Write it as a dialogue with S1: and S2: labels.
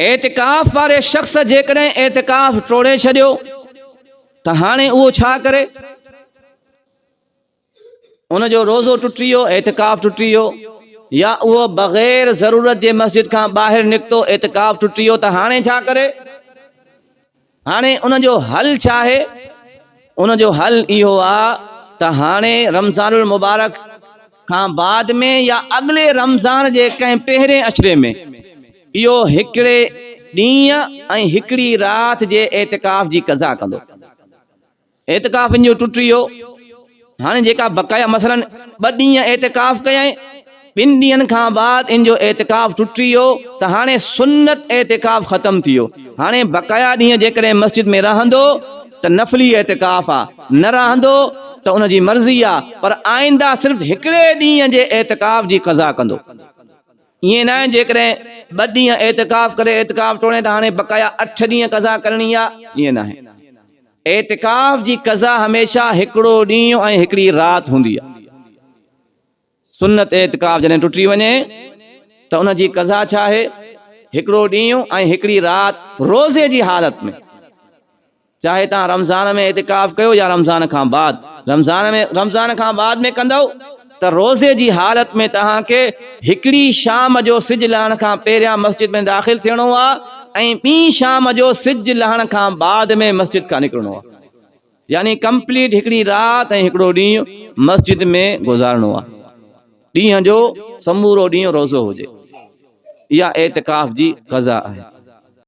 S1: اعتڪاف واري شخص جيڪڏهن اعتڪاف ٽوڙي ڇڏيو ته هاڻي اهو ڇا ڪري؟ ان جو روزو ٽٽي ويو اعتڪاف ٽٽي ويو يا اهو بغير ضرورت جي مسجد کان ٻاهر نڪتو اعتڪاف ٽٽي ويو ته هاڻي ڇا ڪري هاڻي ان جو حل ڇا آهي؟ ان جو حل اهو آ ته هاڻي رمضان المبارڪ کان بعد ۾ يا اڳلي رمضان جي ڪنهن پهرين عشري ۾ اهو هڪڙي ڏينهن ۽ هڪڙي رات جي اعتڪاف جي قضا ڪندو. اعتڪاف ان جو ٽٽي ويو. هاڻي جيڪا بقايا مثلاً ٻه ڏينهن اعتڪاف ڪيائين، ٻن ڏينهن کان بعد ان جو اعتڪاف ٽٽي ويو ته هاڻي سنت اعتڪاف ختم ٿي ويو. هاڻي بقايا ڏينهن جيڪڏهن مسجد ۾ رهندو ته نفلي اعتڪاف آ، نه رهندو ته ان جي مرضي آ، پر آئنده صرف هڪڙي ڏينهن جي اعتڪاف جي قضا ڪندو. ائين ناهي جيڪڏهن ٻه ڏينهن اعتڪاف ڪري اعتڪاف ٽوڙين ته هاڻي بقايا اٺ ڏينهن قضا ڪرڻي آ، ائين ناهي. اعتڪاف جي قضا هميشه هڪڙو ڏينهن ۽ هڪڙي رات هوندي آهي. سنت اعتڪاف جڏهن ٽٽي وڃي ته ان جي قضا ڇا آهي؟ هڪڙو ڏينهن ۽ هڪڙي رات روزي جي حالت ۾. چاهي توهان رمضان ۾ اعتڪاف ڪيو يا رمضان کان بعد. رمضان ۾ رمضان کان بعد ۾ ڪندؤ. ته روزي جي حالت ۾ توهان کي هڪڙي شام جو سج لهڻ کان پهريان مسجد ۾ داخل ٿيڻو آهي ۽ ٻي شام جو سج لهڻ کان بعد ۾ مسجد کان نڪرڻو آهي يعني ڪمپليٽ هڪڙي رات ۽ هڪڙو ڏينهن مسجد ۾ گذارڻو آهي ڏينهن جو سمورو ڏينهن روزو هجي اها اعتڪاف جي قضا آهي